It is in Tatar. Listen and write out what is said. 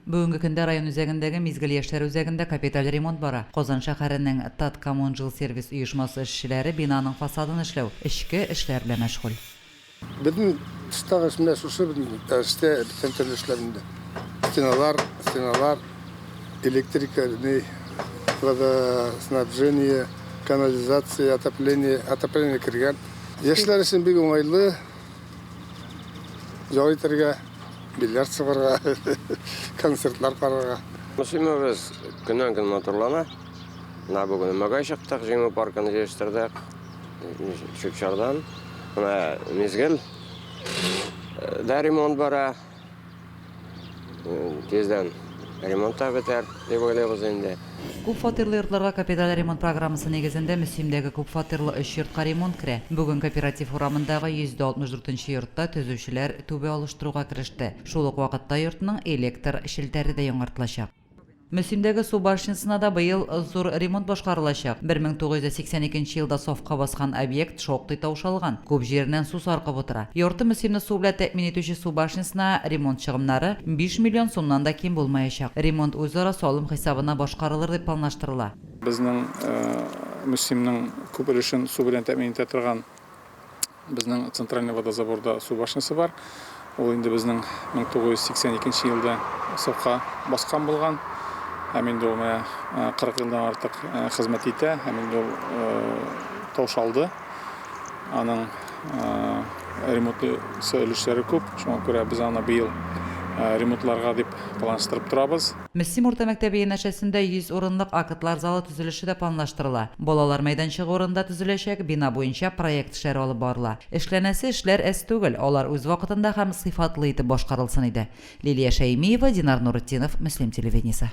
Бүгенге көндә район үзәгендәге Мизгел яшьләр үзәгендә капиталь ремонт бара. Казан шәһәренең Таткоммунжилсервис оешмасы эшчеләре бинаның фасадын эшләү, эчке эшләр белән мәшгуль. Безнең старость менә шушы безнең дәрестә беткән төрле эшләр инде. Стеналар, стеналар, электрика, ни, водоснабжение, канализация, отопление, отопление кергән. Яшьләр өчен бик уңайлы. Ял итәргә, бильярд сыгырга, концертлар карарга. Мөслимәбез көннән көн матурлана. Менә бүген өмәгә чыктык, җиңү паркын җыештырдык. Чүпчардан. Менә мизгел. Дә ремонт бара. Тиздән ремонт та бетәр, дип уйлыйбыз инде. Күп фатирлы йортларга капиталь ремонт программасы нигезендә Мөслимдәге күп фатирлы өч йортка ремонт керә. Бүген Кооператив урамындагы 164 нче йортта төзүчеләр түбә алыштыруга кереште. Шул ук вакытта йортның электр челтәре дә яңартылачак. Мөслимдәге су башнясына да быел зур ремонт башкарылачак. 1982 нче елда сафка баскан объект шактый таушалган, күп җиреннән су саркып утыра. Ярты Мөслимне су белән тәэмин итүче су башнясына ремонт чыгымнары биш миллион сумнан да ким булмаячак. Ремонт үзара салым хисабына башкарылыр дип планлаштырыла. Безнең Мөслимнең күп өлешен су белән тәэмин итә торган безнең центральный водозаборда су башнясы бар. Ул инде безнең 1982 елда сафка баскан булган. Һәм инде ул менә 40 елдан артык хезмәт итә, һәм инде ул таушалды. Аның ремонтлы өлешләре күп, шуңа күрә без аны быел ремонтларга дип планлаштырып торабыз. Мөслим урта мәктәбе янәшәсендә 100 урынлык актлар залы төзелеше дә планлаштырыла. Балалар мәйданчыгы урынында төзеләчәк бина буенча проект эшләре алып барыла. Эшләнәсе эшләр әз түгел, алар үз вакытында һәм сыйфатлы итеп башкарылсын иде. Лилия Шәймиева, Динар Нуретдинов, Мөслим телевидениесе.